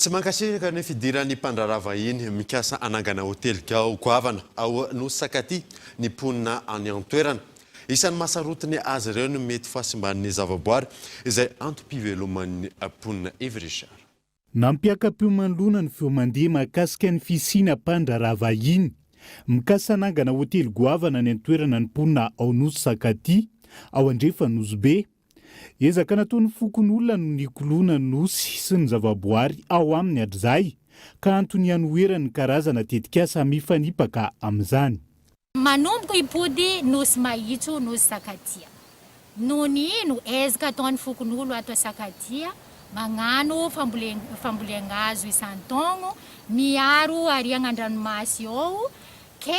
Tsy mankasitraka ny fidiran'ny mpandraharaha vahiny mikasa hanangana hotely gao goavana ao Nosy Sakaty ny mponina any an-toerana. Isan'ny mahasarotiny azy ireo ny mety fahasimban'ny zavaboary izay antom-piveloman'ny mponina Yves Richard. Nampiaka-piomandoana ny feo mandeha mahakasika ny fisiana mpandraharaha vahiny mikasa hanangana hotely goavana any an-toerana ny mponina ao Nosy Sakaty ao andrefan'Nosy Be. Ezaka nataon'ny fokonolona no nikoloana ny Nosy sy ny zavaboary ao aminy hatrizay, ka antony hanoherany ny karazana tetikasa mifanipaka amin'izany. Manomboka hipody Nosy Mahitso, Nosy Sakatia. Noho ny ino? Ezaka ataon'ny fokonolona ato Sakatia, mañano fambolean-gazo isan-taogno, miaro ariagna an-dranomasy ao, ke.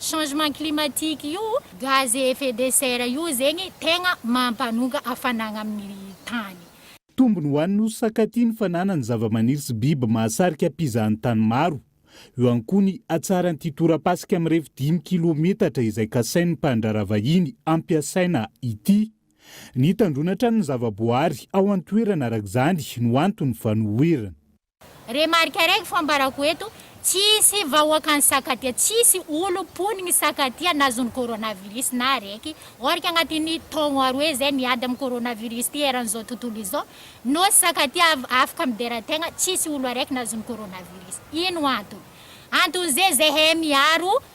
Changement climatique io gaz à effet de serre io zegny tegna mampanonga hafanagna amin'ny tany. Tombony ho an'ny nosy Sakati ny fananany zavamaniry sy biby mahasarika mpizahan-tany maro. Eo ihany koa ny hatsaran'ity torapasika mirefy dimy kilometatra izay kasain'ny mpandraharaha vahiny hampiasaina ity. Nitandroana hatrany ny zavaboahary ao an-toerana araka izany no anton'ny fanoherana. Remarque araiky fo ambarako eto, tsisy vahoaka any sakatia, tsisy olom poniny sakatia nazony coronavirus na araiky, ork agnatiny taogno aroe zay miady am coronavirus ty eran zao tontolo izao, nosy sakatia avy afaka midera tegna, tsisy olo araiky nazony coronavirus, ino antony? Antony zay zahay miaro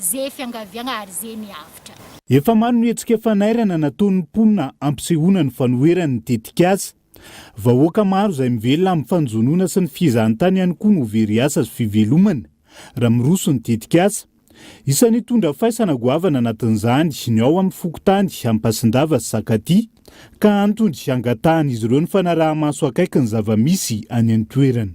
Ze fiangaviagna ary ze miavotra. Efa maro ny hetsika fanairana nataon'ny mponina hampisehoana ny fanoherany ny tetikasa. Vahoaka maro izay mivelona amin'ny fanjonoana sy ny fihezahantany ihany koa no very asa sy fivelomana raha miroso ny tetikasa. Isan'ny hitondra faisana goavana anatin'izany ny ao amin'ny fokontany Ampasindava sy Sakatia ka antony hangatahan'izy ireo ny fanaraha-maso akaiky ny zava-misy any an-toerana.